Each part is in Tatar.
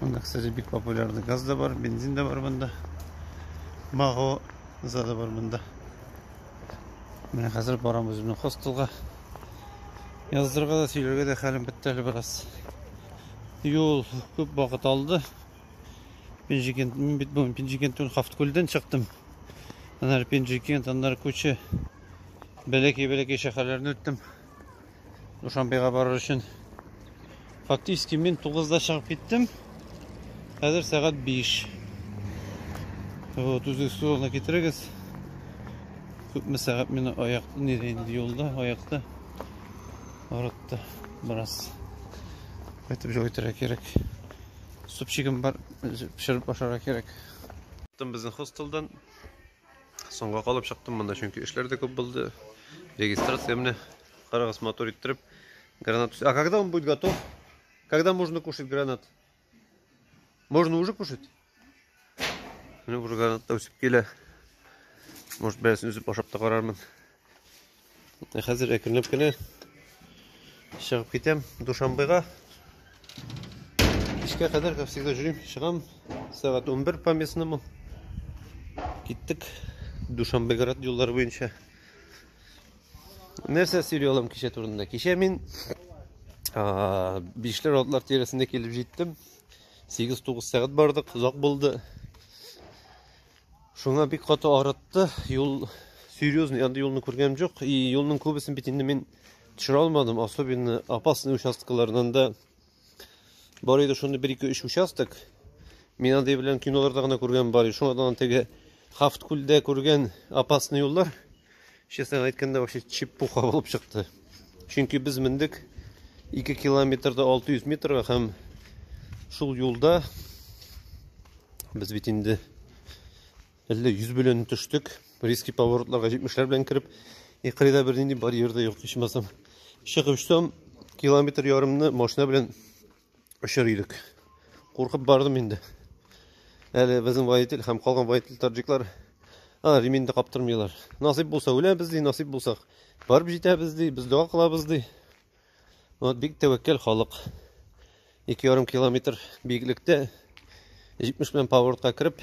Монда, кстати, бик популярный газ да бар, бензин да бар монда. Маго зада бар монда. Менә хәзер барам үземнең хостелга. Яздырга да сөйләргә дә хәлем бетте әле бераз. Юл күп вакыт алды. Пенжикен, мин бит бүген Пенжикентен Хафткүлдән чыктым. Аннары Пенжикент, аннары күче. Бәләкәй-бәләкәй шәһәрләрне үттем. Душанбега барыр өчен фактически мин 9-да чыгып киттем. Хәзер сәгать 5. Вот, үзегез турына китерегез. Күпме сәгать мені аяк неде инде юлда, аякта арытты бераз. Кайтып җой итәргә кирәк. Супчигым бар, пешереп ашарга кирәк. Тым безнең хостелдан Соңга калып чыктым монда, чөнки эшләр дә күп булды. Регистрация менә карагыз мотор иттереп. Гранат. А когда он будет готов? Когда можно кушать гранат? Можно уже кушать? Менә уже гранат та үсеп килә. Может, берәрсен үзеп ашап та карармын. Ә хәзер әкренләп кенә чыгып китәм Душанбега. Кичкә кадәр, как всегда, жүрим, чыгам. Сәгать 11 по местному. Киттек Душанбеград юллары буенча. Нәрсә сөйли алам кичә турында? Кичә мин бишләр атлар тирәсендә килеп җиттем. 8-9 сәгать бардык, озак булды. Шуңа бик каты арытты. Юл серьезный андый юлны күргәнем жоқ. И юлның күбесен бит инде мин төшерә алмадым. Особенно опасный участоклардан да бар иде шуны бер ике өч участок. Мин андый белән киноларда гына күргән бар. Шуңа да теге Хафткүлдә күргән опасный юллар. Честно әйткәндә, вообще чепуха булып чыкты. Чөнки без мендек 2 километрда 600 метрга һәм шул юлда без бит инде әллә 100 белән төштек. Риски поворотларга 70-ләр белән кереп, икрыйда бер нинди барьер дә юк, ичмасам. Чыгып штом километр ярымны машина белән очыр идек. Куркып бардым инде. Әле безнең водитель һәм калган водитель таджиклар а, реминде каптырмыйлар. Насыйп булса үләбез ди, насыйп булсак барып җитәбез ди, без дога кылабыз ди. Вот бик тәвәккәл халык. 2,5 километр биеклектә 70 белән поворотка кереп,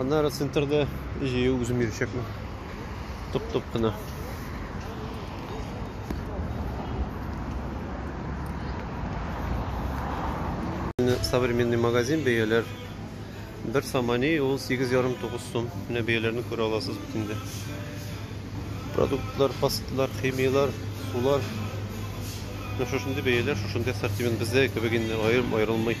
Аннары центрда җыю үзем йөрәчәкмен. Туп-туп кына. Современный магазин бәяләр. Бер самани ул 8,5-9 сум. Менә бәяләрне күрә аласыз бит инде. Продуктлар, пастлар, химияләр, сулар. Менә шушындый бәяләр, шушындый ассортимент бездә кебек инде аерым аерылмый.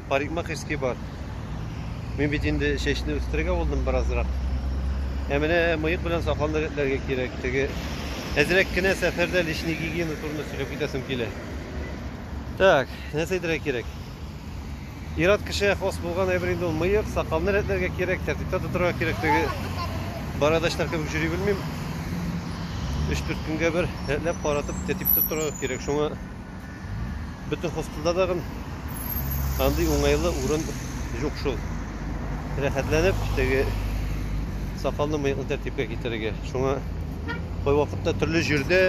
парикмахерский бар. Мин бит инде чәчне үстерергә булдым беразрак. Ә менә мыек белән сакалны рәтләргә кирәк. Теге әзрәк кенә сәфәрдә лишний гигиена турында сөйләп китәсем килә. Так, нәрсә әйтергә кирәк? Ират кешегә хос булган әйбер инде ул мыек, сакалны рәтләргә кирәк, тәртиптә тотарга кирәк. Теге барадачлар кебек йөри белмим. 3-4 көнгә бер рәтләп каратып, тәртиптә торырга кирәк. Шуңа Бөтен хостелда тагын андый уңайлы урын юк шул. Рәхәтләнеп теге сакалны мыеклы тәртипкә китерергә. Шуңа кайвакытта төрле җирдә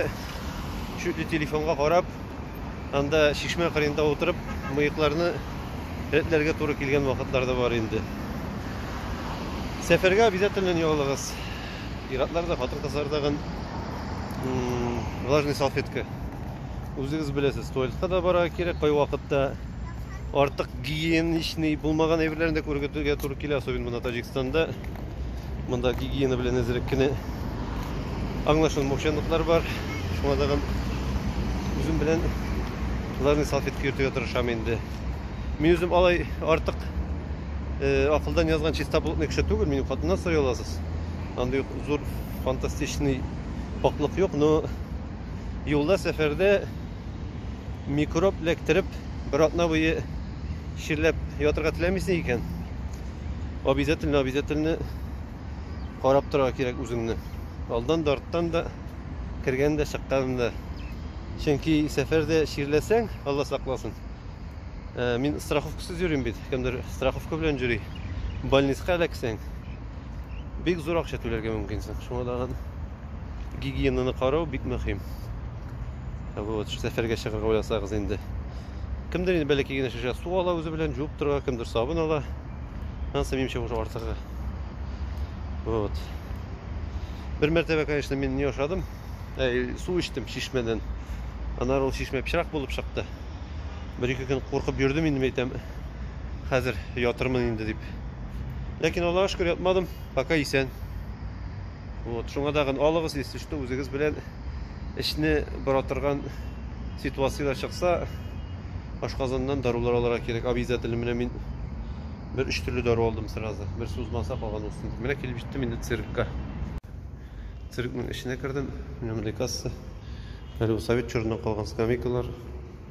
чүтле телефонга карап, анда чишмә кырында утырып, мыекларны рәтләргә туры килгән вакытлар да бар инде. Сәфәргә обязательно не алыгыз. Иратлар да, хатын-кызлар да влажный салфетка Үзегез беләсез, туалетка да барырга кирәк, кайвакытта артык гигиеничный булмаган әйберләрне дә күрергә туры килә, особенно монда Таҗикстанда. Монда гигиена белән әзрәк кенә аңлашылмаучанлыклар бар. Шуңа тагын үзем белән ларный салфетка йөртергә тырышам инде. Мин үзем алай артык э, акылдан язган чистоплотный кеше түгел, минем хатыннан сорый аласыз. Андый зур фантастичный пакьлык юк, но Юлда сәфәрдә микроб эләктереп, бер атна буе чирләп ятырга теләмисең икән, обязательно, обязательно карап торырга кирәк үзеңне. Алдан да, арттан да, кергән дә, чыккан да. Чөнки сәфәрдә чирләсәң, Алла сакласын. Э, мин страховкасыз йөрим бит. Кемдер страховка белән йөри. Больницага эләксәң, бик зур акча түләргә мөмкинсең. Шуңа да гигиенаны карау бик мөһим. Ә вот сәфәргә чыгарга уйласагыз инде. Кемдер инде бәләкәй генә шешә су ала үзе белән җуып торырга, кемдер сабын ала. Ансы минемчә уже артыгы. Вот. Бер мәртәбә, конечно, мин не ошадым. Ә, су эчтем чишмәдән. Анар ул чишмә пычрак булып чыкты. Бер-ике көн куркып йөрдем инде, әйтәм. Хәзер ятырмын инде дип. Ләкин Аллаһка шөкер ятмадым, пока исән. Вот, шуңа тагын алыгыз, если что, үзегез белән эшне бара торган ситуацияләр чыкса, ашказаннан дарулар алырга кирәк. Обязательно менә мин бер өч төрле дару алдым сразу. Бер сузмаса калган булсын. Менә килеп җиттем инде циркка. Циркның эченә кердем. Менә мондый касса. Әле совет чорыннан калган скамейкалар.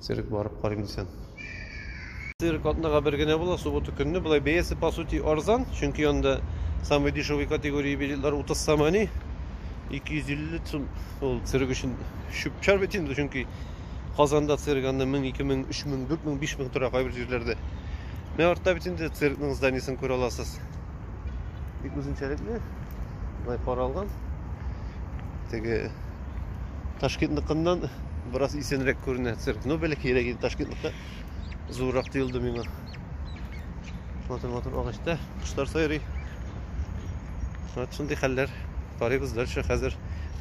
Цирк барып карыйм дисәм. Цирк атнага бер генә була, суббота көнне. Болай бәясе по сути арзан, чөнки анда самый дешевый категория билетлар 30 сом ани. 250 сум ул цирк өчен чүп-чар бит инде, чөнки Казанда цирк анда 1000, 2000, 3000, 4000, 5000 тора кайбер җирләрдә. Менә артта бит инде циркның зданиесен күрә аласыз. бик үзенчәлекле былай каралган теге ташкентныкыннан бераз исәнрәк күренә цирк ну бәләкәйрәк инде ташкентныкы зуррак тоелды миңа матур матур агачта кошлар сайрый вот шундый хәлләр Карыйбыз дальше хәзер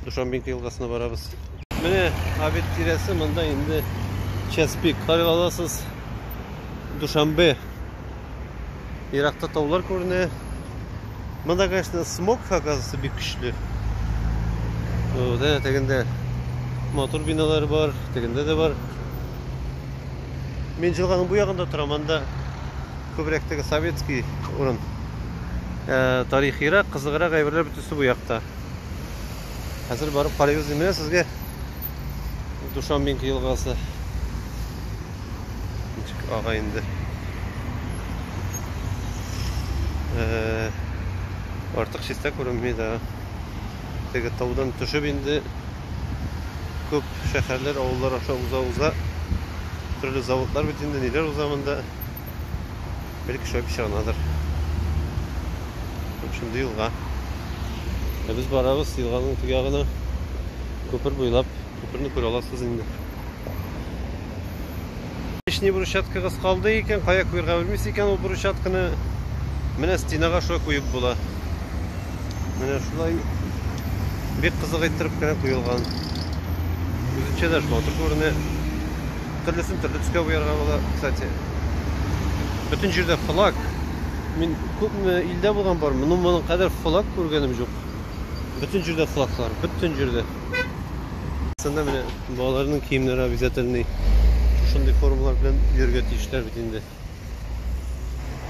Душамбинка елгасына барабыз. Менә обед тирәсе монда инде час пик. Карый аласыз. Душамбе. Еракта таулар күренә. Монда, конечно, смог оказывается бик көчле. Дә тегендә матур биналар бар, тегендә дә бар. Мин җылганың бу ягында торам, анда Күбрәк теге советский урын. Ә, тарихирак, кызыграк әйберләр бөтенесе бу якта. Хәзер барып карыйбыз дим. Менә сезгә Душамбинка елгасы. Ничек ага инде. Э, артык чистә күренми дә. Теге таудан төшеп инде күп шәһәрләр, авыллар аша уза-уза төрле заводлар бит инде, ниләр уза монда. Бер кеше акча анадыр. Шундый елга. Ә без барабыз елганың теге ягына. Күпер буйлап. Күперне күрә аласыз инде. Лишний брусчаткагыз калды икән, кая куярга белмисез икән ул брусчатканы. Менә стенага шулай куеп була. Менә шулай бик кызык иттереп кенә куелган. Үзенчә дә шулай матур күренә. Төрлесен төрле төскә буярга була, кстати. Бөтен җирдә флаг. Мин күпме илдә булган бар, моның моның кадәр флаг күргәнем юк. Бөтен җирдә флаглар, бөтен җирдә. Сында менә балаларның киемнәре обязательный шушындый формалар белән йөрергә тиешләр бит инде.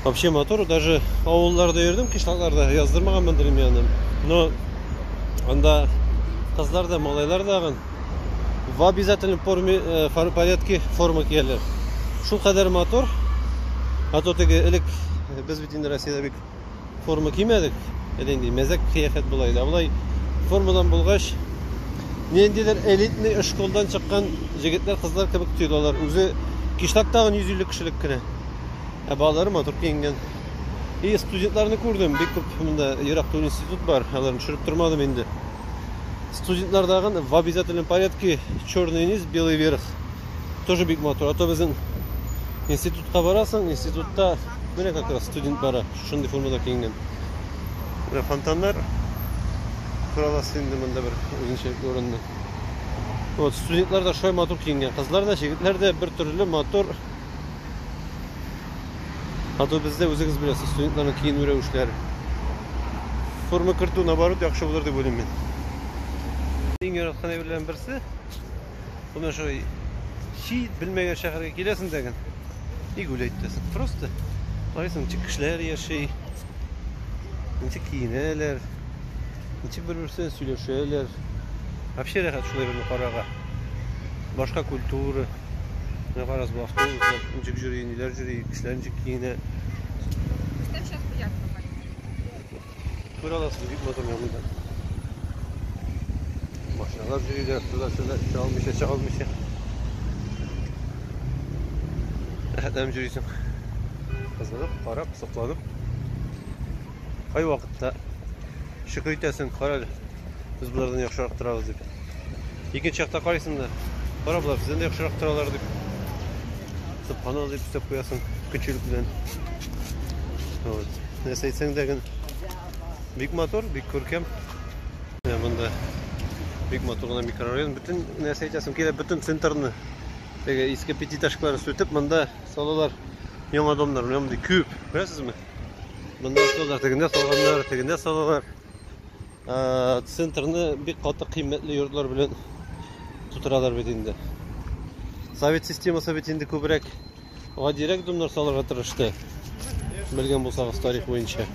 Вообще мотор даже авылларда йөрдем, кышлакларда яздырмаганмын дремянын. Но анда кызлар да, малайлар да гын в обязательном форме, э, порядке форма кияләр. Шул кадәр мотор, а то теге элек без бит инде Россиядә бик Форма кимәдек. Әле инде мәзәк кыяфәт болай да. Болай формадан булгач, ниндидер элитный эшколдан чыккан җегетләр, кызлар кебек тоелалар. Үзе кишлак тагын 150 кешелек кенә. Ә балалары матур киенгән. И студентларны күрдем, бик күп монда ерак түгел институт бар, аларны төшереп тормадым инде. Студентлардагын в обязательном порядке черный низ, белый верх. тоже бик матур. Ата безнең институтка барасың, институтта менә как раз студент бара, шундый формада киенгән. Менә фонтаннар кораласы инде монда бер үзенчәлекле урынны. Вот, студентлар да шулай матур киенгән. Кызлар да, җегетләр дә бер төрле матур. А то бездә үзегез беләсез, студентларның киенү рәвешләре. Форма кертү наоборот яхшы булыр дип уйлыйм мин. Иң яраткан әйберләрнең берсе Менә шулай чи белмәгән шәһәргә киләсең дәген. И гулять итәсең. Просто карыйсың, ничек кешеләр яши, ничек киенәләр, ничек бер-берсенә сөйләшәләр. Вообще рәхәт шулай берне карарга. Башка культура. Менә карагыз, бу автобуслар ничек йөри, ниләр йөри, кешеләр ничек киенә. Күр аласыз, бик матур янында. Машиналар йөриләр, туда-сюда, эчә алмыйча, чыга алмыйча. Рәхәтләнеп йөрисең. Кызыгып, карап, сокланып. Кай вакытта шөкер итәсең, кара әле. Без болардан яхшырак торабыз дип. Икенче чакта карыйсың да, кара болар бездән дә яхшырак торалар дип. Субханалла дип өстәп куясың көчелек белән. Вот. Нәрсә әйтсәң дә гын бик матур, бик күркәм. Монда бик матур гына микрорайон. Бөтен нәрсә әйтәсең килә, бөтен центрны теге иске пятиэтажкалар сүтеп, монда салалар яңа домнар, мондый күп. Күрәсезме? Монда салалар, тегендә салганнар, тегендә салалар. Ә, центрны бик каты кыйммәтле йортлар белән тутыралар бит инде. Совет системасы бит инде күбрәк гадирәк домнар салырга тырышты. Белгән булсагыз тарих буенча.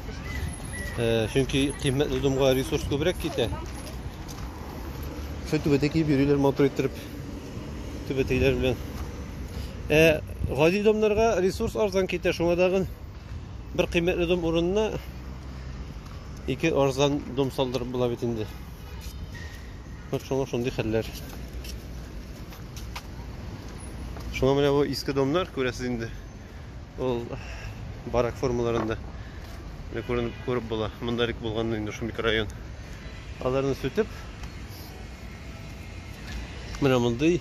Ә, чөнки кыйммәтле домга ресурс күбрәк китә. Шул түбәтә киеп йөриләр матур иттереп. Түбәтәйләр белән. Ә гади домнарга ресурс арзан китә, шуңа дагын Бер кыйммәтле дом урынына ике арзан дом салдырып була бит инде. Вот шуңа шундый хәлләр. Шуңа менә бу иске домнар күрәсез инде. Ул барак формаларында менә күренеп күреп була. Монда рик булган инде шул микрорайон. Аларны сүтеп менә мондый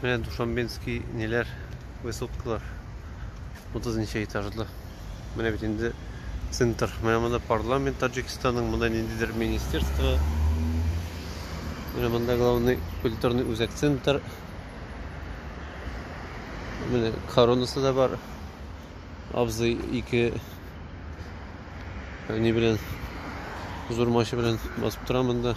Менә Душамбинский ниләр, высоткалар. 30 ничә этажлы. Менә бит инде центр. Менә монда парламент Таджикистанның, монда ниндидер министерство. Менә монда главный культурный үзәк центр. Менә коронасы да бар. Абзый ике не белән зур машина белән басып тора монда.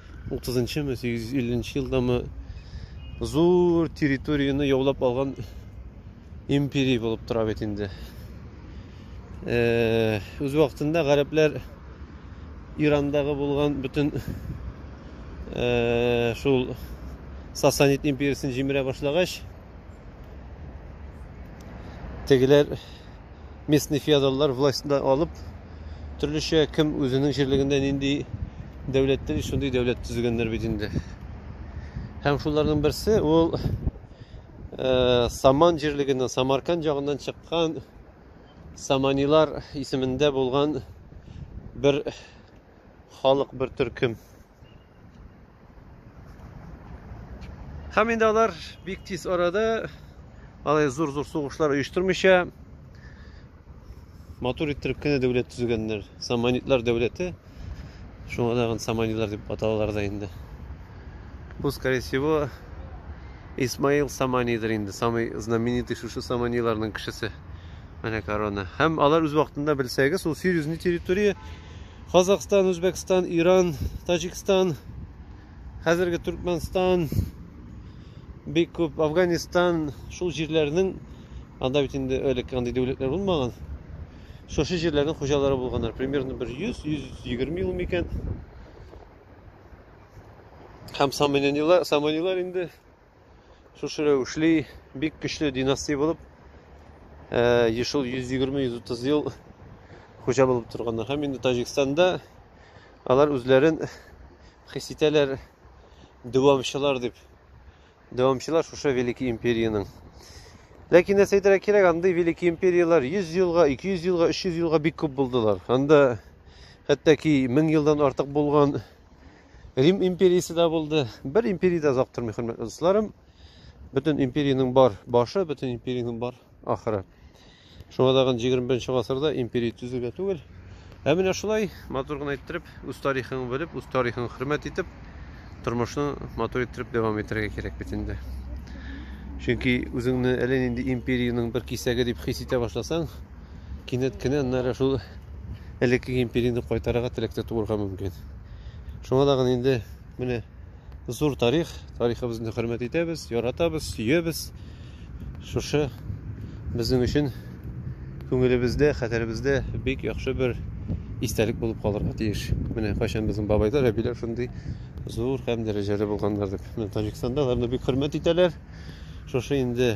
30-нчы ме, 850 елдамы зур территорияне яулап алган империя булып тора бит инде. Э, үз вакытында гарәпләр Ирандагы булган бөтен э, шул Сасанид империясын җимерә башлагач, тегеләр местный феодаллар властьны алып, төрлечә кем үзенең җирлегендә нинди дәүләт тели, шундый дәүләт төзегәннәр бит инде. Һәм шуларның берсе ул э, Саман җирлегеннән, Самарканд ягыннан чыккан Саманилар исемендә булган бер халык, бер төркем. Һәм инде алар бик тиз арада алай зур-зур сугышлар оештырмыйча матур иттереп кенә дәүләт төзегәннәр. Саманитлар дәүләте. Шуңа тагын саманитлар дип аталалар да инде. Бу, скорее всего, Исмаил Саманидер инде, самый знаменитый шушы саманиларның кешесе. Менә корона. Һәм алар үз вакытында белсәгез, ул серьезный территория Казахстан, Үзбәкстан, Иран, Таҗикстан, хәзерге Түркменстан, бик күп Афганистан, шул җирләрнең анда бит инде элек андый дәүләтләр булмаган. Шушы җирләрнең хуҗалары булганнар. Примерно бер 100-120 ел микән. Һәм саманилар, саманилар инде Шушы рәвешле бик көчле династия булып, э, ешыл 120-130 ел хуҗа булып торганнар. Һәм инде Таҗикстанда алар үзләрен хис итәләр дәвамчылар дип. Дәвамчылар шушы Великий империянең. Ләкин нәрсә әйтергә кирәк, андый Великий империяләр 100 елга, 200 елга, 300 елга бик күп булдылар. Анда хәтта ки 1000 елдан артык булган Рим империясе дә булды. Бер империя дә озак тормый, хөрмәтле дусларым. Бөтен империянең бар башы, бөтен империянең бар ахыры. Шуңа тагын 21 гасырда империя төзүгә түгел. Ә менә шулай матур гына иттереп, үз тарихын белеп, үз тарихын хөрмәт итеп, тормышны матур иттереп дәвам итәргә кирәк бит инде. Чөнки үзеңне әле нинди империянең бер кисәге дип хис итә башласаң, кинәт кенә нәре шул элекке империяне кайтарырга теләктә туырга мөмкин. Шуңа да гына инде менә зур тарих, тарихыбызны хөрмәт итәбез, яратабыз, сөебез. Шушы безнең өчен күңелебездә, хәтеребездә бик яхшы бер истәлек булып калырга тиеш. Менә кайчан безнең бабайлар, әбиләр шундый зур һәм дәрәҗәле булганнар дип. Менә Таҗикстанда аларны бик хөрмәт итәләр. Шушы инде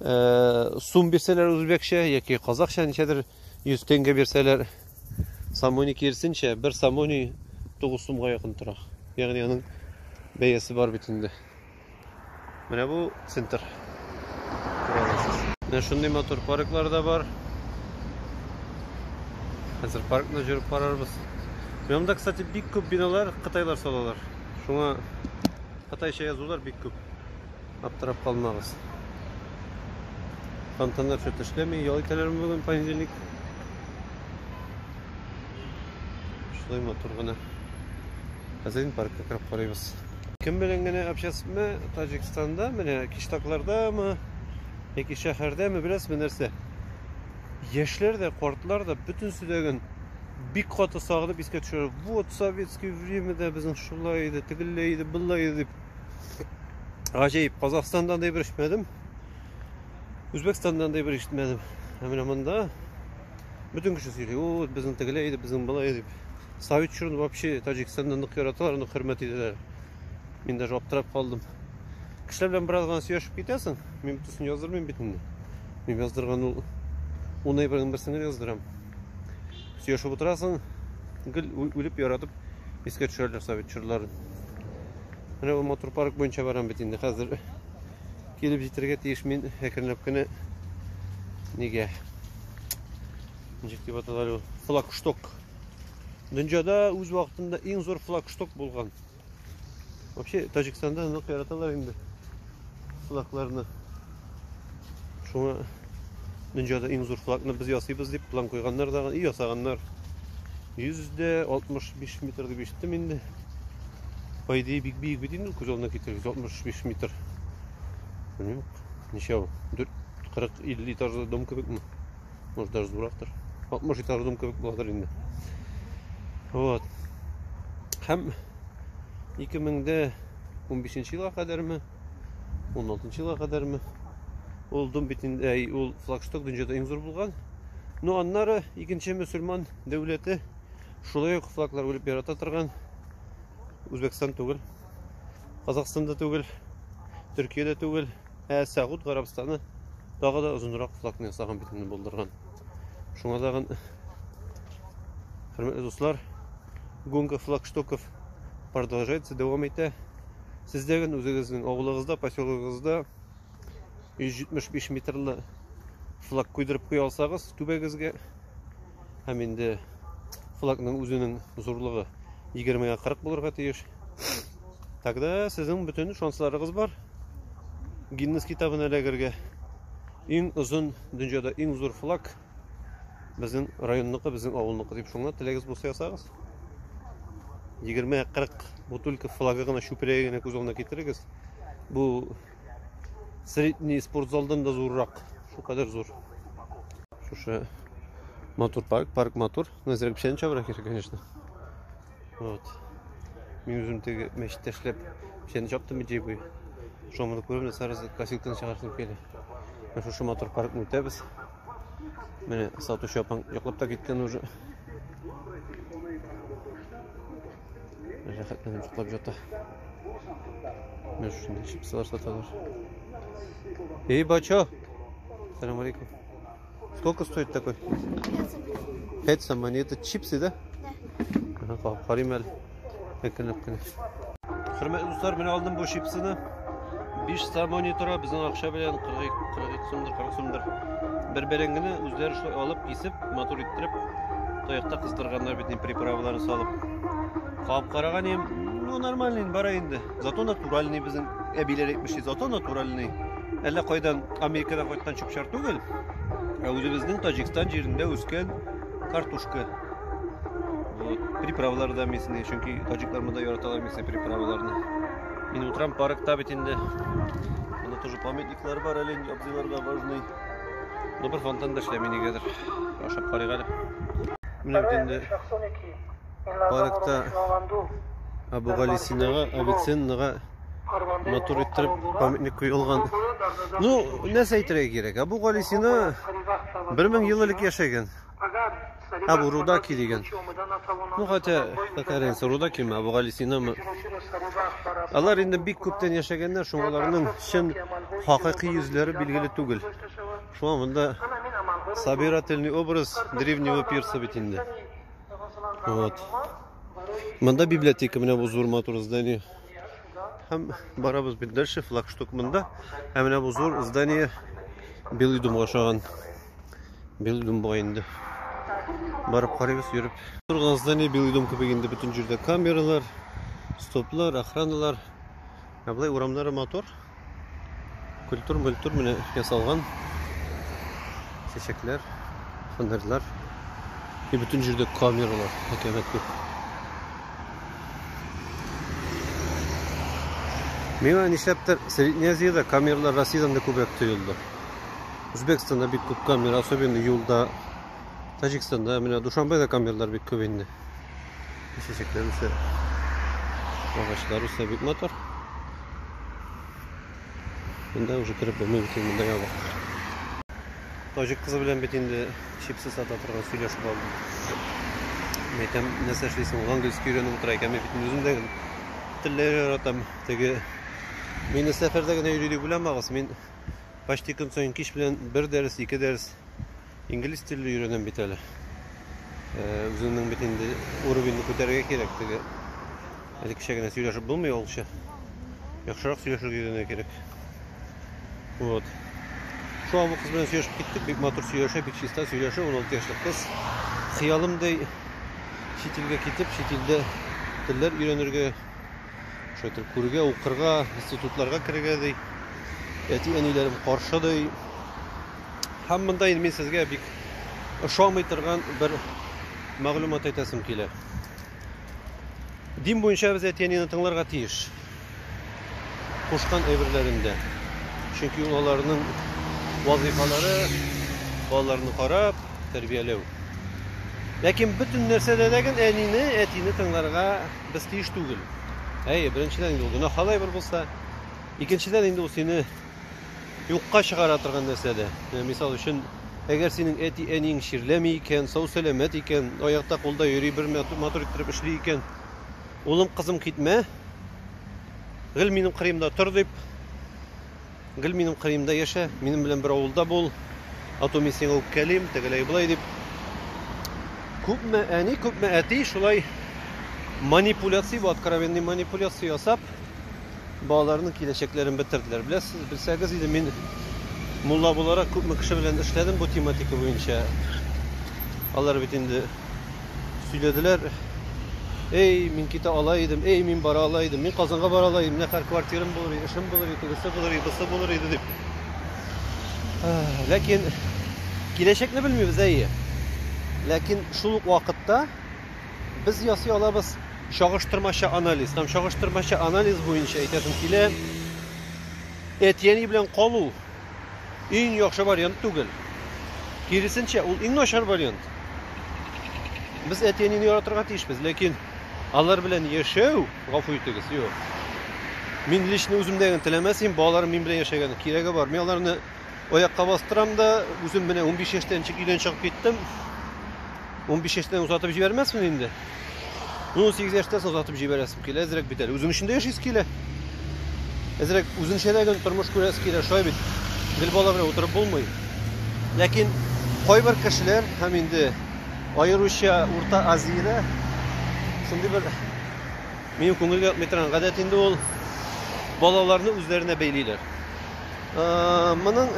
э, сум бирсәләр үзбәкчә яки казахча ничәдер 100 тенге бирсәләр самони кирсенчә бер самони 9 сумга якын тора ягъни аның бәясе бар бит инде менә бу центр менә шундый матур парклар да бар хәзер паркны жүреп карарбыз монда кстати бик күп биналар кытайлар салалар шуңа кытайча язулар бик күп Аптырап калмагыз. Фонтаннар чөт эшләми, ял итәләрме бүген понедельник? Шулай матур гына. Хәзер паркка кереп карыйбыз. Кем белән генә общасызмы Таҗикстанда, менә киштаклардамы, яки шәһәрдәме, беләсезме нәрсә? Яшьләр дә, картлар да бөтенесе дә гөн бик каты сагынып искә төшерә. Вот советский время дә безнең шулай иде, тегелләй иде, былай иде дип. Гаҗәеп, Казахстанда андый бер ишетмәдем. Үзбәкстанда андый бер ишетмәдем. Ә менә монда бөтен кеше сөйли, "О, безнең тегеләй иде, безнең былай иде." Совет чорын вообще Таҗикстанда нык яраталар, нык хөрмәт итәләр. Мин даже аптырап калдым. Кешеләр белән бераз гына сөйләшеп китәсең. Мин битүсен яздырмыйм бит инде. Мин яздырган ул уны ибрагым берсен генә яздырам. Сөйләшеп утырасың, гел үлеп яратып искә төшәрләр совет чорларын. Менә бу мотор парк буенча барам бит инде хәзер. Килеп җитәргә тиеш мин әкренләп кенә. Нигә? Ничек дип аталар ул? Флагшток. Дөньяда үз вакытында иң зур флагшток булган. Вообще Таҗикстанда нык яраталар инде. флагларны. Шуңа дөньяда иң зур флагны без ясыйбыз дип план куйганнар да, и ясаганнар. 165 метр дип ишеттем инде. По идее, бик биек бит инде күз алдына китерер 165 метр. Белмим, ничә ул? 40 50 этажлы дом кебекме? Может даже зурактыр. 60 этажлы дом кебек буладыр инде. Вот. Һәм 2000 дә 15 елга кадәрме, 16 елга кадәрме. Ул дом битендә, ул флагшток дөньяда иң зур булган. Ну, аннары икенче мөселман дәүләте шулай ук флаглар үлеп ярата торган Үзбәкстан түгел, Казахстанда түгел, Төркиядә түгел, ә Сәгуд Гарабстаны тагы да озынрак флагны ясаган битенне булдырган. Шуңа тагын хөрмәтле дуслар, гонка флагштоков Продолжается, дәвам итә. Сездәген үзегезнең авылыгызда, поселогыгызда 175 метрлы флаг куйдырып куя алсагыз түбәгезгә һәм инде флагның үзенең зурлыгы 20-га 40 булырга тиеш. Тогда сезнең бөтен шансларыгыз бар Гиннес китабына эләгергә. Иң озын дөньяда иң зур флаг Безнең районныкы, безнең авылныкы дип шуңа теләгез булса ясагыз. 20-40 бутылка флага гына чүпрәге генә күз алдына китерегез. Бу средний спортзалдан да зуррак. Шу кадәр зур. Шушы матур парк, парк матур. Назрәк печән чабыра кирәк, конечно. Вот. Мин үзем теге мәчеттә эшләп, печән чаптым бит җибуй. Шомны күрәм, сарыз косилканы чыгарып килә. Менә шушы матур паркны үтәбез. Менә сатучы апаң йоклап та киткән уже. Рәхәтләнеп йоклап ята. Менә шушында чипсылар саталар. Эй, бачо! Салам алейкум. Сколько стоит такой? Пять самани. Это чипсы, да? Да. Qarayım әле. Әкелеп кенә. Хөрмәтле дуслар, мен алдым бу чипсыны. 5 самани тора, безнең акча белән 42 42 сумдыр, 40 сумдыр. Бер бәрәңгене үзләре шулай алып, кисеп, матур иттереп, таякта кыздырганнар бит приправаларын салып. Кап караган ем, ну нормальный бара инде. Зато натуральный безнең әбиләр әйтмешли, зато натуральный. Әллә кайдан Америкадан кайткан чүп-чар түгел, ә үзебезнең Таҗикстан җирендә үскән картушка. Вот, приправалар да местные, чөнки таҗиклар монда яраталар местные приправаларны. Мин утрам паркта бит инде. Монда тоже памятниклар бар, әле абзыйларга важный. Ну, бер фонтан да эшләми нигәдер. Ашап карыйк әле. Менә бит инде паркта Абугалисинага, Авиценнага матур иттереп памятник куелган. Ну, нәрсә әйтергә кирәк? Абугалисина 1000 ел элек яшәгән. Абу Рудаки дигән. Ну, хотя, какая разница, Рудаки ме, Абугалисина ме. Алар инде бик күптән яшәгәннәр, шуңа аларның чын хакыйкый йөзләре билгеле түгел. Шуңа монда собирательный образ древнего пирса бит инде. Вот. Монда библиотека менә бу зур матур здание. Һәм барабыз бит дальше флагшток монда. Һәм менә бу зур здание Белый думга ошаган. Белый дум була инде. Барып карыйбыз, йөреп. Торган здание Белый дум кебек инде бөтен җирдә камералар, стоплар, охраналар. Ә болай урамнары матур. Культур-мультур менә ясалган. Чәчәкләр, фонарьлар. И бөтен җирдә камералар, хәкәмәт күп. Миңа нишләптер Средняя Азиядә камералар Россиядән дә күбрәк тоелды. Үзбәкстанда бик күп камера, особенно юлда. Таҗикстанда менә Душанбеда камералар бик күп инде. Чәчәкләр үсә. Агачлар үсә бик матур. Монда уже кереп булмый бит монда ябык. Таҗик кызы белән бит инде чипсы сата торган сөйләшеп алдым. Мәйтәм, нәрсә эшлисең? Ул английский өйрәнеп утыра икән, мин бит үзем дә телләр яратам. Теге Мин сәфәрдә генә йөри дип уйламагыз, мин почти көн саен кич белән бер дәрес, ике дәрес Инглиз телле өйрәнәм бит әле. Үзеңнең бит инде уровеньны күтәрергә кирәк теге. Әле кичә генә сөйләшеп булмый олча. Яхшырак сөйләшергә өйрәнергә кирәк. Вот. Шуңа бу кыз белән сөйләшеп киттек, бик матур сөйләшә, бик чиста сөйләшә, 16 яшьлек кыз. Хыялымдай чит илгә китеп, чит илдә телләр өйрәнергә, шайтыр күрергә, укырга, институтларга керергә ди. Әти-әниләрем каршы ди. Һәм монда инде мин сезгә бик ошамый торган бер мәгълүмат әйтәсем килә. Дин буенча без әтиәнене тыңларга тиеш. Кушкан әйберләрендә. Чөнки ул аларның вазыйфалары, балаларны карап, тәрбияләү. Ләкин бөтен нәрсәдә дә гел әнине, әтине тыңларга без тиеш түгел. Әйе, беренчедән инде ул гөнаһ алай бер булса, икенчедән инде ул сине юкка чыгара торган нәрсә дә. Менә мисал өчен, әгәр синең әти-әниең чирләми икән, сау-сәламәт икән, аякта кулда йөри, бер матур иттереп эшли икән, улым, кызым, китмә, гел минем кырыемда тор дип, гел минем кырыемда яшә, минем белән бер авылда бул, ату мин сиңа үпкәлим, тегеләй болай дип. Күпме әни, күпме әти шулай манипуляция, бу откровенный манипуляция ясап, балаларның киләчәкләрен бетерделәр. Беләсез, белсәгез иде, мин мулла буларак күпме кеше белән эшләдем бу тематика буенча. Алар бит инде сөйләделәр. Эй, мин китә ала идем, эй, мин бара ала идем, мин Казанга бара ала идем, нәхәр квартирам булыр иде, эшем булыр иде, тегесе булыр иде, бусы булыр иде дип. Ләкин киләчәкне белмибез, әйе. Ләкин шул ук вакытта Без ясый алабыз чагыштырмача анализ. Һәм чагыштырмача анализ буенча әйтәсем килә, әтияни белән калу иң яхшы вариант түгел. Киресенчә, ул иң начар вариант. Без әтиәнене яратырга тиешбез, ләкин алар белән яшәү, гафу итегез, юк. Мин лично үземдә генә теләмәс идем, балаларым мин белән яшәгән кирәге бар. Мин аларны Аякка бастырам да, үзем менә 15 яшьтә ничек өйдән чыгып киттем. 15 яшьтән озатып җибәрмәсмен инде. 18 яшьтән озатып җибәрәсем килә, әзрәк бит әле. Үзең өчен дә яшисе килә. Әзрәк үзеңчә дә гел тормыш күрәсе килә, шулай бит. Гел бала белән утырып булмый. Ләкин кайбер кешеләр һәм инде аеруча Урта Азиядә шундый бер минем күңелгә ятмый торган гадәт инде ул балаларны үзләренә бәйлиләр. Моның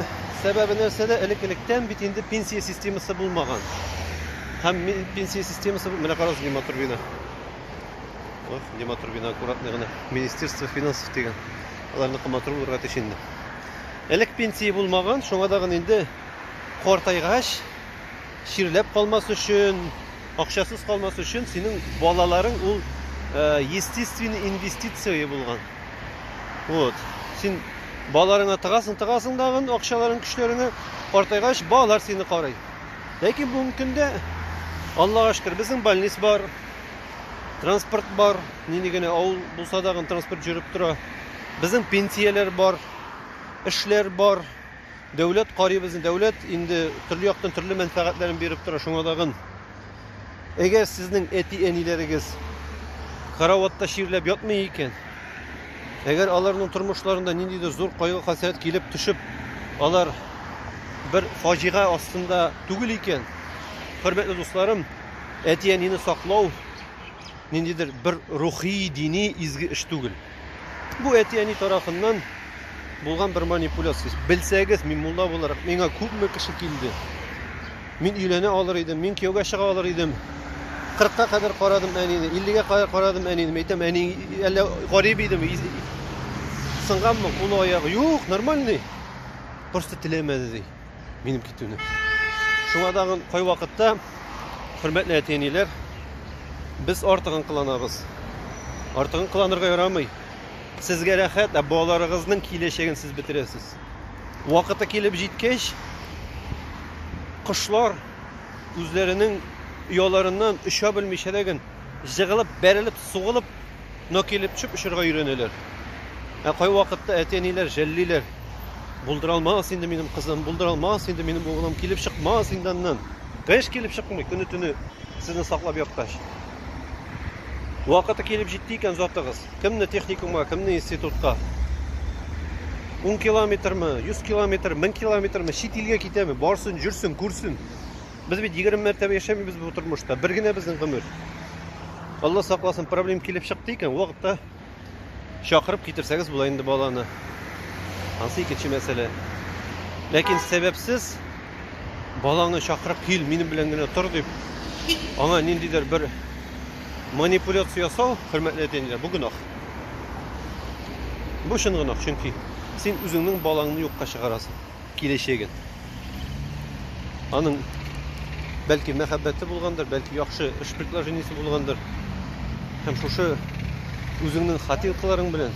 сәбәбе нәрсәдә? Элек-электән бит инде пенсия системасы булмаган. Һәм пенсия системасы менә карагыз ни матур бина. Ох, ни матур бина аккуратный гына. Министерство финансов дигән. Аларны матур булырга тиеш инде. Элек пенсия булмаган, шуңа да гына инде картайгач чирләп калмас өчен, акчасыз калмас өчен синең балаларың ул э, естественный инвестиция булган. Вот. Син балаларыңа тыгасың, тыгасың дагын акчаларын, көчләреңә картайгач балалар сине карый. Ләкин бүгенге көндә Аллага шөкер, безнең больниц бар, транспорт бар, нинди генә авыл булса да транспорт жүреп тора. Безнең пенсияләр бар, эшләр бар. Дәүләт карыйбызны, дәүләт инде төрле яктан төрле мәнфәгатьләрен биреп тора, шуңа тагын. Әгәр сезнең әти-әниләрегез караватта чирләп ятмый икән, әгәр аларның тормышларында ниндидер зур кайгы-хәсрәт килеп төшеп, алар бер фаҗига астында түгел икән, хөрмәтле дусларым, әти-әнине саклау ниндидер бер рухи, дини изге эш түгел. Бу әти-әни тарафыннан булган бер манипуляция. Белсәгез, мин мулла буларак, миңа күпме кеше килде. Мин өйләнә алыр идем, мин кияүгә чыга алыр идем. 40-ка кадәр карадым әнине, 50-гә кадәр карадым әнине. Әйтәм, әни әллә гарип идеме? Сынганмы кулы аягы? Юк, нормальный. Просто теләмәде ди. минем китүне. Шуңа тагын кайвакытта, хөрмәтле әти-әниләр, без артыгын кыланабыз. Артыгын кыланырга ярамый. Сезгә рәхәт, ә балаларыгызның киләчәген сез бетерәсез. Вакыты килеп җиткәч, кошлар үзләренең ояларыннан оча белмичә дә гөн, җыгылып, бәрелеп, сугылып Но килеп чүп очырга өйрәнәләр. Ә кайвакытта әти-әниләр жәллиләр. Булдыра алмас инде минем кызым, булдыра алмас инде минем углым, килеп чыкмас инде аннан. Кыш килеп чыкмый, көне-төне сезне саклап яткач. Вакыты килеп җитте икән затыгыз. Кемне техникумга, кемне институтка. Ун километрмы, йөз километр, мең километрмы, чит илгә китәме, барсын, җөрсен, күрсен. Без бит 20 мәртәбә яшәмибез бу тормышта. Бер генә безнең гомер. Алла сакласын, проблем килеп чыкты икән, вакытта чакырып китерсәгез була инде баланы. Ансы икенче мәсьәлә. Ләкин сәбәпсез баланы чакырып кил, минем белән генә тор дип, аңа ниндидер бер манипуляция ясау, хөрмәтле әтиләр, бу гөнаһ. Бу чын гөнаһ, чөнки син үзеңнең балаңны юкка чыгарасың. киләчәген. Аның бәлки мәхәббәте булгандыр, бәлки яхшы эш предложениесе булгандыр. Һәм шушы үзеңнең хатинкаларың белән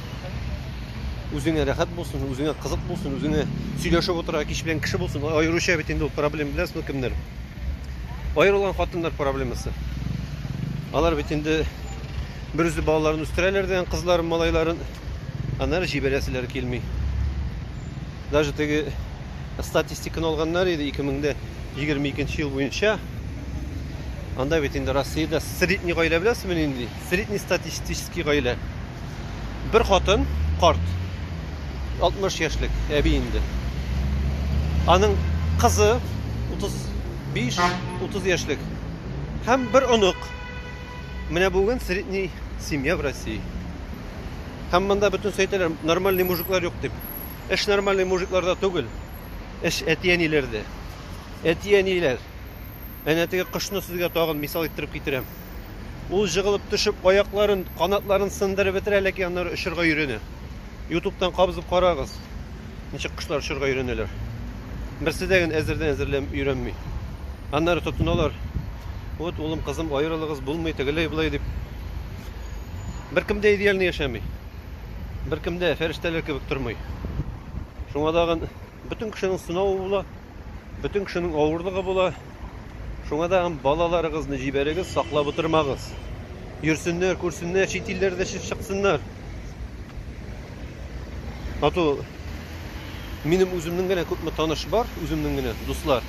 үзеңә рәхәт булсын, үзеңә кызык булсын, үзеңә сөйләшеп утырырга кич белән кеше булсын. Аеруча бит инде ул проблема беләсезме кемнәр? Аерылган хатыннар проблемасы. Алар бит инде бер үзе балаларын үстерәләр дигән кызларын, малайларын Аннары җибәрәселәре килми. Даже теге статистиканы алганнар иде 2022 ел буенча. Анда бит инде Россиядә средний гаилә беләсезме нинди? Средний статистический гаилә. Бер хатын, карт. 60 яшьлек әби инде. Аның кызы 35-30 яшьлек һәм бер онык. Менә бүген средний семья в России. Һәм монда бөтен сөйтәләр, нормальный мужиклар юк дип. Эш нормальный мужикларда түгел. Эш әтиәниләрдә. Әтиәниләр. Әнә теге кошны сезгә тагын мисал иттереп китерәм. Ул җыгылып төшеп, аякларын, канатларын сындырып бетерә, ләкин аннары очырга өйрәнә. Ютубтан кабызып карагыз. ничек кошлар очырга өйрәнәләр. Берсе дә генә әзердән әзерләм өйрәнми. Аннары тотыналар. Вот, улым, кызым, аерылыгыз булмый, тегеләй булай дип. Беркем дә идеальный яшәми. Беркем дә фәрештәләр кебек тормый. Шуңа дагын бөтен кешенең сынавы була. Бөтен кешенең авырлыгы була. Шуңа да һәм балаларыгызны җибәрегез, саклап утырмагыз. Йөрсеннәр, күрсеннәр, чит илләрдә чыксыннар. Ату минем үземнең генә күпме таныш бар, үземнең генә дуслар.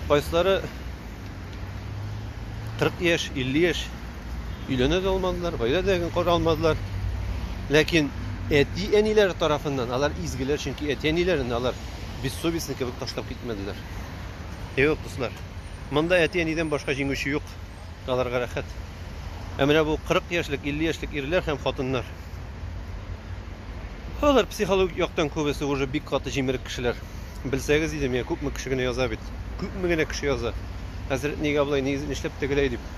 Кайсылары 40 яшь, 50 яшь Өйләнә дә алмадылар, гаилә дә кора алмадылар. Ләкин әти-әниләре тарафыннан алар изгеләр, чөнки әти-әниләрен алар бессовестный кебек ташлап китмәделәр. Юк, дуслар. Монда әти-әнидән башка җиңүче юк. Аларга рәхәт. Ә менә бу 40 яшьлек, 50 яшьлек ирләр һәм хатыннар. Алар психологик яктан күбесе уже бик каты җимерек кешеләр. Белсәгез иде, менә күпме кеше генә яза бит. Күпме генә кеше яза. Хәзрәт нигә болай, нишләп тегеләй дип.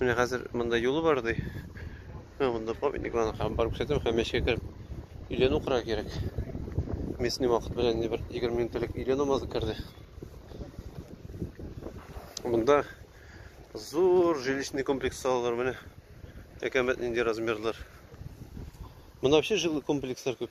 Менә хәзер монда юлы бар ди. Менә монда памятникларны һәм бар күрсәтәм һәм мәчеткә кереп өйлән укырга кирәк. Местный вакыт белән бер 20 минут элек өйлән намазы керде. Монда зур жилищный комплекс салалар менә. Әкәмәт нинди размерлар. Монда вообще жилый комплекслар күп.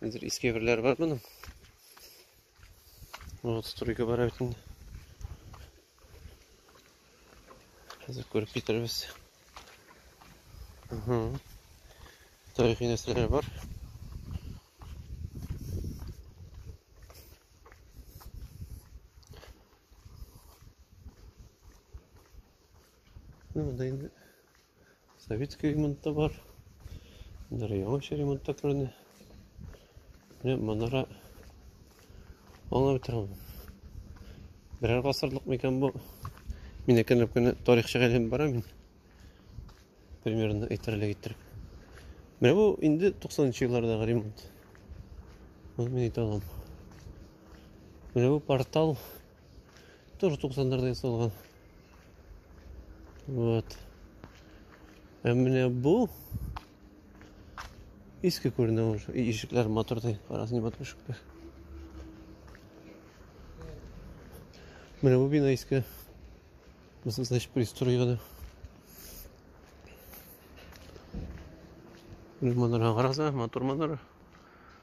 Хәзер иске берләр бар моның. Вот стройка бара бит инде. Хәзер күреп китербез. Угу. Тарихи нәрсәләр бар. Ну, да инде. Советский ремонтта бар. Менә яңача ремонтта күренә. Менә манара аңлап бетерәм. Берәр гасырлык микән бу? Мин әкренләп кенә тарихчыга әйләнеп барам мин. Примерно әйтерлек иттереп. Менә бу инде 90-нчы еллардагы ремонт. Моны мин әйтә аламын. Менә бу портал Тоже 90-ларда ясалган. Вот. Ә менә бу иске күренә ул. Ишекләр матурдай, карасын матур ишекләр. Менә бу бина иске. Мисал, значит, пристроена. Менә манара караса, матур манара.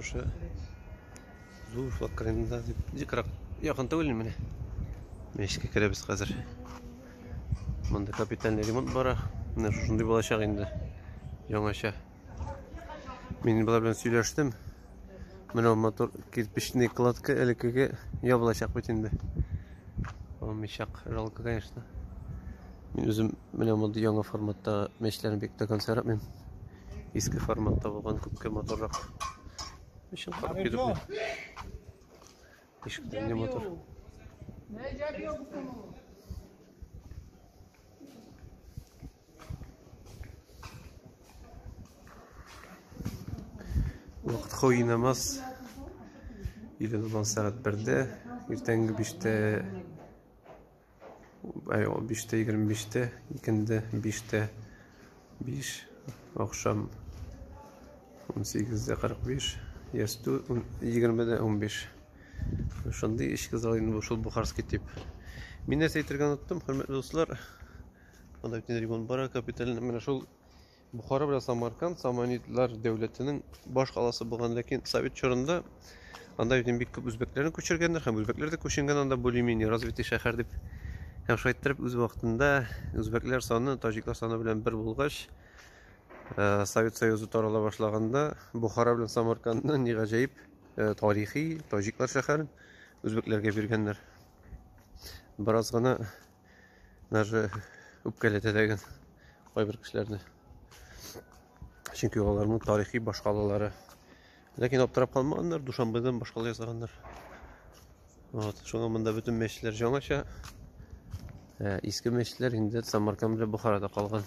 Шушы зур флаг кырында дип дикрак якын түгел менә. Мәчеткә керәбез хәзер. Монда капитальный ремонт бара. Менә шушындый булачак инде. Яңача. Мин болар белән сөйләштем. Менә мотор кирпичный кладка элеккеге ябылачак бит инде. Алмыйчак, жалко, конечно. Мин үзем менә мондый яңа форматта мәчләрне бик тә консерватмыйм. Иске форматта булган күпкә матуррак. Ишек карап килеп бу. Ишек не матур. Вакыт куйнамас. Иле булган сәгать 1-дә, иртәнге 5-тә Әй, ул биштә егерме биштә, икенде биштә биш, ахшам унсигездә кырык биш, ястү егермедә унбиш. Шундый эчке зал инде шул Бухарский тип. Мин нәрсә әйтергә оныттым, хөрмәтле дуслар. Анда бит ремонт бара, капиталь менә шул Бухара белән Самарканд Саманидлар дәүләтенең баш каласы булган, ләкин совет чорында анда бит бик күп үзбәкләрне күчергәннәр һәм үзбәкләр дә күченгән анда более-менее развитый шәһәр дип. Һәм шулай иттереп үз вакытында үзбәкләр саны таҗиклар саны белән бер булгач, э, Совет Союзы тарала башлаганда Бухара белән Самаркандны ни гаҗәеп э, тарихи таҗиклар шәһәрен үзбәкләргә биргәннәр. Бераз гына даже үпкәләтә дә икән кайбер кешеләрне чөнки аларның тарихи башкалалары ләкин аптырап калмаганнар душанбедан башкала ясаганнар вот шуңа монда бөтен мәчетләр жаңача ә, иске мәчетләр инде самарканд белән бухарада калган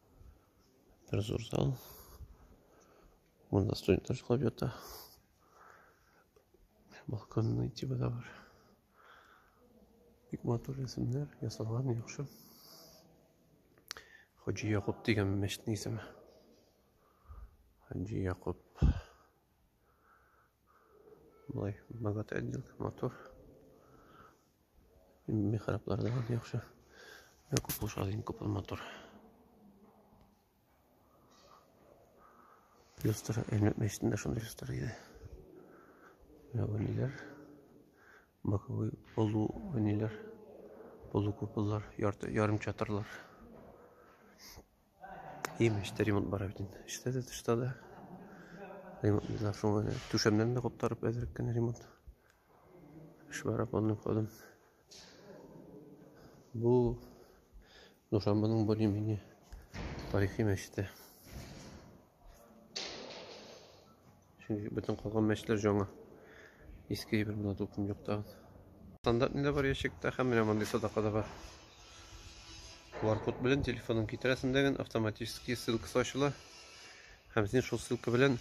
Тренажер зал. Вон на студент тоже ловит. Балкон найти бы добр. Бик матур рәсемнәр, ясалган яхшы. Хаҗи Якуб дигән мәчетнең исеме. Хаҗи Якуб. Болай богатый отделка, матур. Михраблар да яхшы. Бик күп булса, иң күп матур. Люстра, Әлмәт мәчетендә шундый люстра иде. Менә Боковой полу ниләр? Полукуполлар, ярты, ярым чатырлар. Имеш, ремонт бара бит инде. Эштә дә, тышта да. Ремонт бит соң әле. Түшәмнәрне дә куптарып әзрәк кенә ремонт. Эш бара полным ходом. Бу Душанбаның более-менее тарихи мәчете. Чөнки бөтен калган мәчетләр җаңа. Иске әйбер монда дулкын юк тагын. Стандарт нидә бар ящикта һәм менә мондый садака да бар. QR-код белән телефонын китерәсең дәген автоматически ссылкасы ачыла. Һәм син шул ссылка белән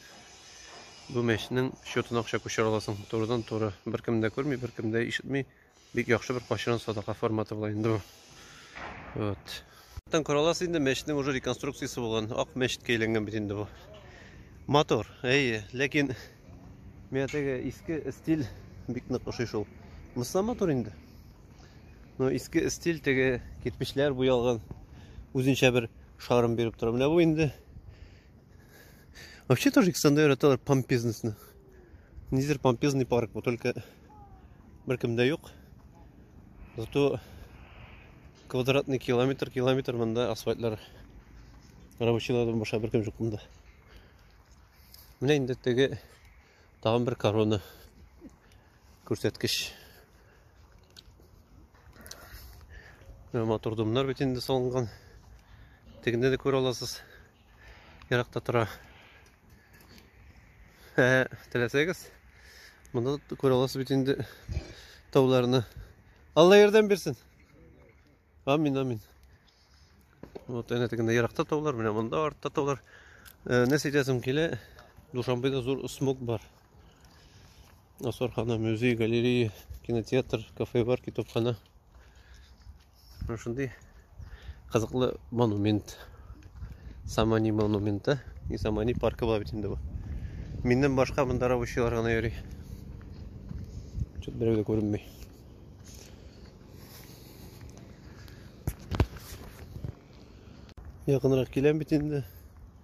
бу мәчнең счетына акча күчерә аласың. Турыдан туры. Беркем дә күрми, беркем дә ишетми. Бик яхшы бер качырын садака форматы була инде бу. Вот. Тан коралас инде мәчетнең уже реконструкциясе булган. Ак мәчеткә әйләнгән бит инде бу. Мотор. Әйе, ләкин миңа теге иске стиль бик нык ошый шул. Мыслы мотор инде. Но иске стиль теге кирпечләр буялган үзенчә бер шарым биреп тора. Менә бу инде Вообще тоже Александр это помпезность. Низер помпезный парк, вот только Беркем дә юк. Зато квадратный километр, километр монда асфальтлар. Рабочилардан баша беркем юк монда. Менә инде теге тагын бер корона күрсәткеч. Матур домнар бит инде салынган. Тегендә дә күрә аласыз. еракта тора. Ә теләсәгез, монда күрә аласыз бит инде тауларны. Алла ярдәм бирсен. Амин, амин. Вот әнә тегендә еракта таулар, менә монда артта таулар. Э, Нәрсә әйтәсем килә? Душанбеда зур смог бар. Асархана, музей, галерея, кинотеатр, кафе бар, китапхана. Менә шундый кызыклы монумент. Самани монументы и Самани паркы була бит инде бу. Миннән башка монда рабочийлар гына йөри. Чөт берәү дә күренми. Якынрак киләм бит инде.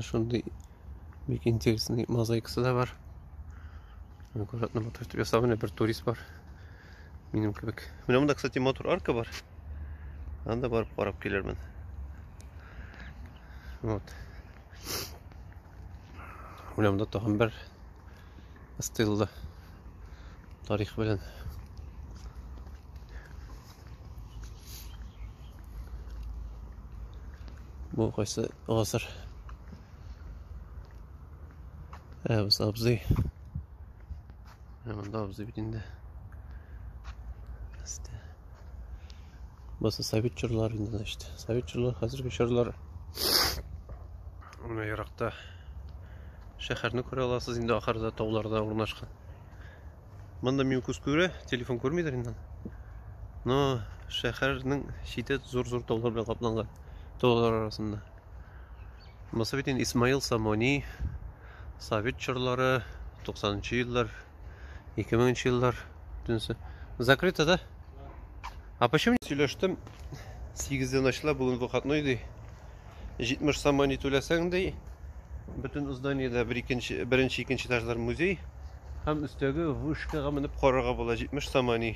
Шундый бик интересный мозаикасы да бар. Аккуратно мотор итеп ясалган, бер турист бар. Минем кебек. Менә монда, кстати, мотор арка бар. Анда барып карап килермен. Вот. Менә монда тагын бер стилда тарих белән бу кайсы гасыр әбіз абзый мында абзый бит инде басы совет чорлары инде значит совет чорлары хәзерге чорлар Менә еракта шәһәрне күрә аласыз инде ахырда тауларда урнашкан. Монда мин күз күрә, телефон күрмидер инде. Но шәһәрнең чите зур-зур таулар белән капланган. Таулар арасында. Монысы бит инде Исмаил Самони, Совет чорлары, 90-нчы еллар, 2000-нчы еллар төнсе. Закрыто, да? А почему не сөйләштем? 8 дән ачыла, бүген выходной ди. 70 сом мани түләсәң ди. Бөтен зданиедә бер икенче, беренче, икенче этажлар музей һәм өстәге вышкага менеп карарга була 70 сом мани.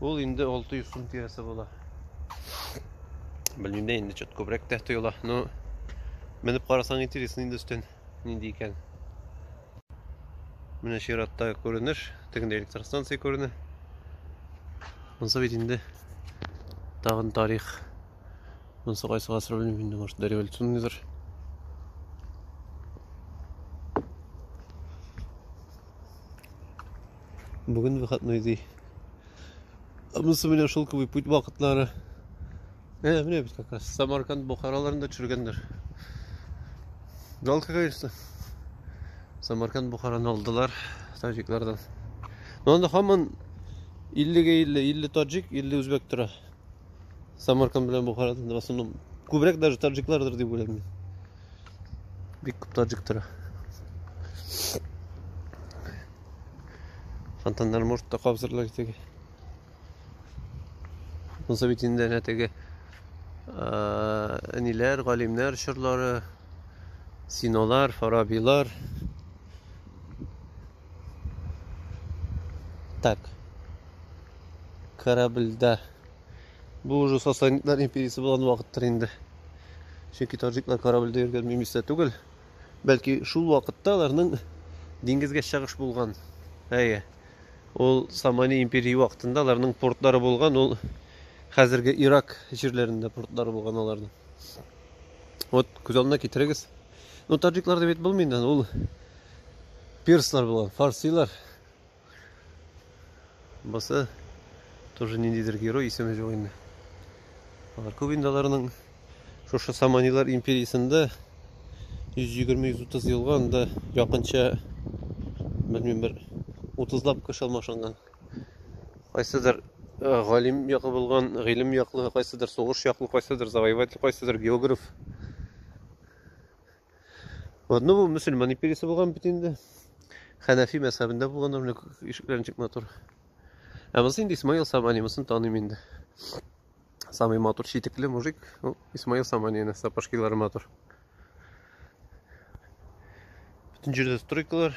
Ул инде 600 сум тирәсе була. Белмим дә инде чөт күбрәк тә тоела. Но менеп карасаң интересно инде өстен нинди икән. Менә чиратта күренеш, тегендә электростанция күренә. Монсы бит инде тагын тарих. Монсы кайсы гасыр белмим инде, может, дореволюционныйдыр. Бүген выходной ди. Монсы менә шул кеби путь вакытлары. Ә, менә бит как раз Самарканд Бухараларында төшергәннәр. Жалко, конечно. Самарканд Бухараны алдылар таҗиклардан. Но анда хаман 50-ге 50, 50 таҗик, 50 үзбәк тора. самарканд белән бухарадан в основном күбрәк даже таджиклардыр дип уйлыйм мин бик күп таджик тора фонтаннар может та кабызырлар теге булса бит инде әнә теге әниләр галимнәр чорлары синолар фарабилар так корабльдә. Бу уже Сасанидлар империясе булган вакыттыр инде. Чөнки таҗиклар корабльдә йөргән мимистә түгел. Бәлки шул вакытта аларның диңгезгә чыгыш булган. Әйе. Ул Самани империя вакытында аларның портлары булган, ул хәзерге Ирак җирләрендә портлары булган аларның. Вот күз алдына китерегез. Ну, таҗиклар дип әйтеп булмый инде, ул перслар булган, фарсилар. Бусы тоже ниндидер герой исеме жоқ инде. Алар күп инде аларның шушы Саманилар империясендә 120-130 елга анда якынча белмим бер 30 лап кеше алмашынган. Кайсыдыр э, галим якы булган, гыйлем яклы, кайсыдыр сугыш яклы, кайсыдыр завоеватель, кайсыдыр географ. Вот, ну, бу мөселман империясе булган бит инде. Хәнәфи мәзһәбендә булганнар, менә ишекләр ничек матур. Ә монысы инде Исмаил Самани, монысын таныйм инде. Самый матур читекле мужик, ну, Исмаил Самани, әнә сапожкилары матур. Бүтән җирдә стройкалар.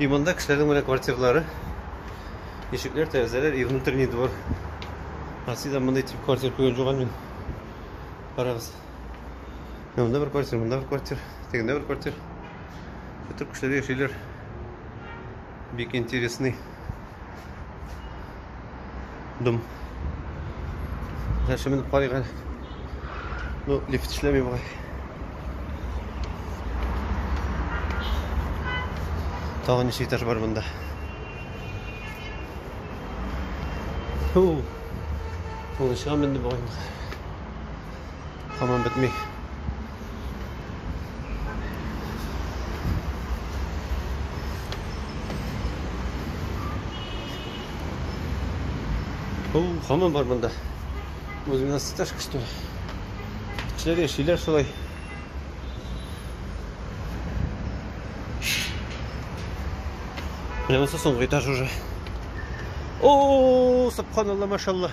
И монда кешеләрнең менә квартиралары. Ишекләр, тәрәзәләр и внутренний двор. Россиядә мондый тип квартир күргән юк мин. Карагыз. Монда бер квартир, монда бер квартир, тегендә бер квартир. Бөтен кешеләр яшиләр. Бик интересный. Дым. Нәрсә менеп карыйк әле. Ну, лифт эшләми бугай. Тагы ничә этаж бар монда? Фу. Ул чыга менде бугай. Һаман бетми. Ул һаман бар монда. Үз мина сташка что ли? Эшләр яшиләр шулай. Менә монсы соңгы этаж уже. О, субханалла, машалла.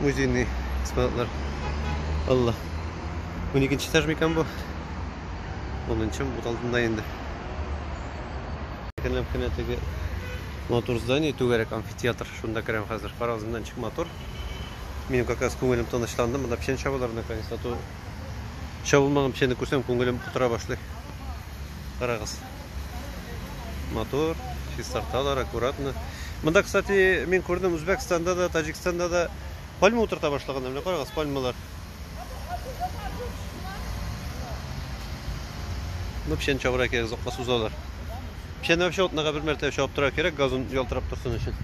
музейный экспонатлар. Алла. Уникенче этаж микан бу? Онынчы бут алдында инде. Кенләп кенә теге матур здание, түгәрәк амфитеатр. Шунда керәм хәзер. Карагыз, моннан чик матур. Минем как раз күңелем тынычланды. Монда печән чабалар наконец-то. Чабылмаган печәнне күрсәм, күңелем котыра башлый. Карагыз. Мотор, чистарталар аккуратно. Монда, кстати, мин күрдем Үзбәкстанда да, Таҗикстанда да пальма утырта башлаганнар. Менә карагыз, пальмалар. Ну, печән чабырга кирәк, озакка сузалар. Печәнне вообще атнага бер мәртәбә чабып торырга кирәк, газон ялтырап торсын өчен.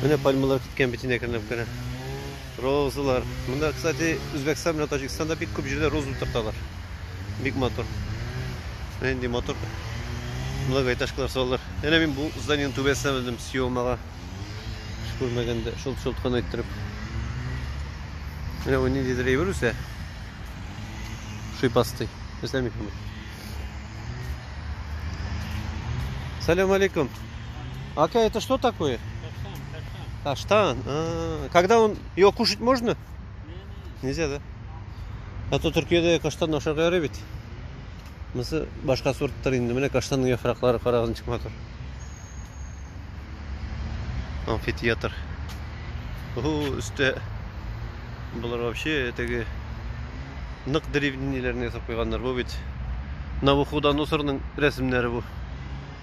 Менә пальмалар көткән битенә кернәп керә. Розалар. Монда, кстати, Үзбәкстан белән Таҗикстанда бик күп җирдә роза утырталар. Бик матур. Менә инде матур многоэтажкалар салалар. Әнә мин бу зданиенең түбәсенә мендем съемага. Күрмәгәндә шылт-шылт кына иттереп. Менә бу ниндидер әйбер үсә. Шыйпастый. Нәрсә микән бу? Салам алейкум. Ака, это что такое? Каштан. А, когда он его кушать можно? Нельзя, да? А то Төркиядә каштан ашарга ярый бит. Монысы башка сорттар инде. Менә каштанның яфраклары карагыз ничек матур. Амфитеатр. Ого, өстә булар вообще теге нык древниләрне ясап куйганнар. Бу бит Навуходоносорның рәсемнәре бу.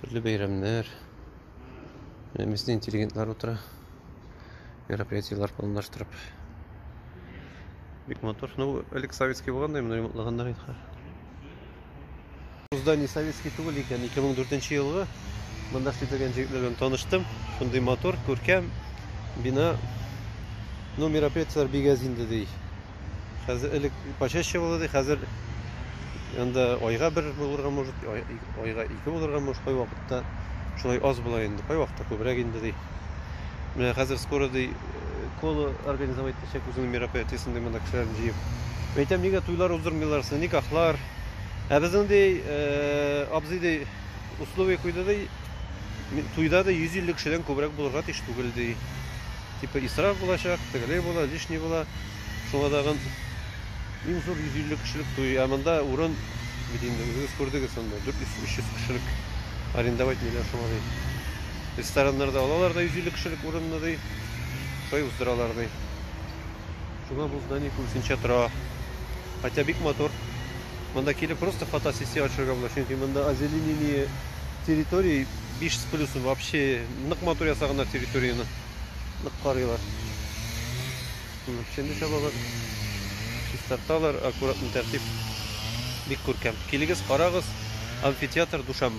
Төрле бәйрәмнәр. Менә местный интеллигентлар утыра. Мероприятиеләр планлаштырып. Бик матур. Ну, элек советский булгандай, моны ремонтлаганнар инде. Бузда не советский түгел икән. 2004 елгы монда эшләгән җегетләр белән таныштым. Шундый матур, күркәм бина. Ну, мероприятиеләр бигәз инде ди. Хәзер элек почаще булды ди, хәзер анда айга бер булырга может, айга ике булырга может, кай вакытта шулай аз була инде, кай вакытта күбрәк инде ди. Менә хәзер скоро ди коло организовать итәчәк үзенең мероприятиесен ди монда кешеләрне җыеп. Әйтәм, нигә туйлар уздырмыйлар, никахлар. Ә безнең ди э, абзый ди условие куйды ди, туйда ди 150 кешедән күбрәк булырга тиеш түгел ди. Типа исраф булачак, тегеләй була, лишний була. Шуңа тагын иң зур 150 кешелек туй. Ә монда урын бит инде үзегез күрдегез анда 400-300 кешелек арендовать ниләр шуңа ди. Рестораннарда алалар да 150 кешелек урынны ди. Шулай уздыралар ди. Шуңа бу здание күбесенчә тора. Хотя бик матур. Монда килеп просто фотосессия ачырга була, чөнки монда озеленение территории 5 с плюсом вообще нык матур ясаганнар территорияне. нык карыйлар. Шуның өчен дә чабалар. Чистарталар, аккуратный тәртип. Бик күркәм. Килегез, карагыз. Амфитеатр Душанбе.